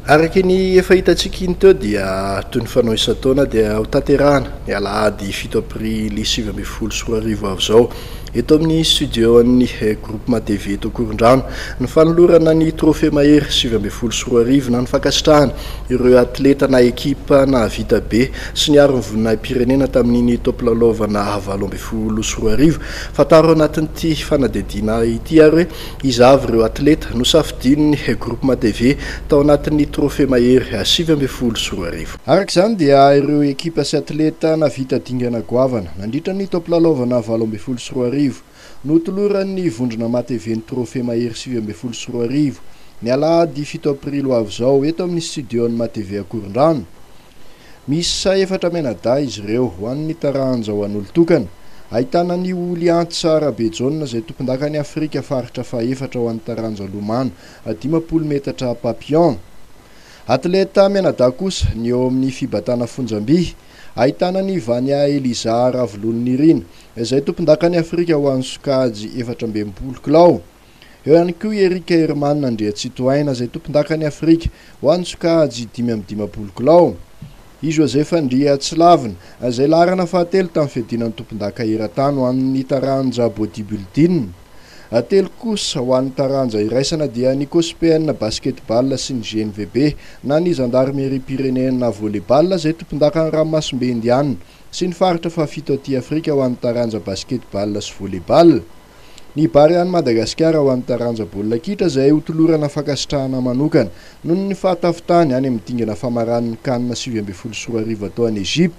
Araka ny efa hitantsika iny teo dia toy ny fanao isan-taona dia ho tanterahana ny alahady fito aprily sivy ambin'ny folo sy roa arivo avy izao eto amin'ny studio-n'ny Groupement TV eto Ankorondrano ny fanolorana ny trophée mahery sivy ambin'ny folo sy roa arivo na ny fankasitrahana ireo atleta na ekipa nahavita be sy niaro ny voninahim-pirenena tamin'iny taom-pilalaovana valo ambin'ny folo sy roa arivo. Fantaro ao anatin'ity fanadihadiana ity ary hoe Iza avy ireo atleta nosafidian'ny Groupement TV tao anatin'ny Trophée Mahery sivy ambin'ny folo sy roa arivo? Araka izany dia ireo ekipa sy atleta nahavita dingana goavana nandritra ny taom pilalaovana valo ambin'ny folo sy roa arivo no toloran'ny vondrona MaTV ny Trophée Mahery sivy ambin'ny folo sy roa arivo, ny alahady fito aprily ho avy izao, eto amin'ny studio-n'ny MaTV Ankorondrano. Miisa efatra mianadahy izy ireo, ho an'ny taranja ho an'olon-tokana. Ahitana an'i Ulianti Sara Bejaona izay tompondakan'i Afrika faritra fahefatra ho an'ny taranja lomano dimampolo metatra papillon. Atleta mianadahy kosa ny eo amin'ny fibatana fonjam-by. Ahitana an'i Vania Eliza Ravolononirina izay tompondakan'i Afrika ho an'ny sokajy efatra ambin'ny folo kilao. Eo ihany koa i Eric Herman Andriatsitohaina izay tompondakan'i Afrika ho an'ny sokajy dimy amby dimampolo kilao. I Joseph Andriatsilavina, izay laharana fahatelo tamin'ny fiadiana ny tompondaka eran-tany ho an'ny taranja bodybuilding. Telo kosa ho an'ny taranja iraisana dia ny Cospen Basketball sy ny GNVB na ny Zandarimeriam-pirenena Volley-ball izay tompondakan'ny ranomasimbe Indiana sy ny faritra fahafito aty Afrika ho an'ny taranja Basketball sy Volley-ball. Ny Barea-n'i Madagasikara ho an'ny taranja baolina kitra izay hotolorana fankasitrahana manokana noho ny fahatafitany any amin'ny dingana famaran'ny Can sivy ambin'ny folo sy roa arivo atao any Egypte.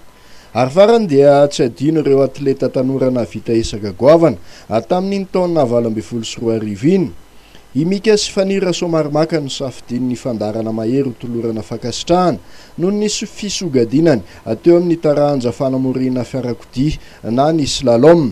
Ary farany dia tsy adino ireo atleta tanora nahavita ezaka goavana tamin'iny taona valo ambin'ny folo sy roa arivo iny. I Mika sy Faniry Rasoamarimaka no safidian'ny fandaharana mahery hotolorana fankasitrahana noho ny fisogadinany teo amin'ny taranja fanamoriana fiarakodia na ny slalom.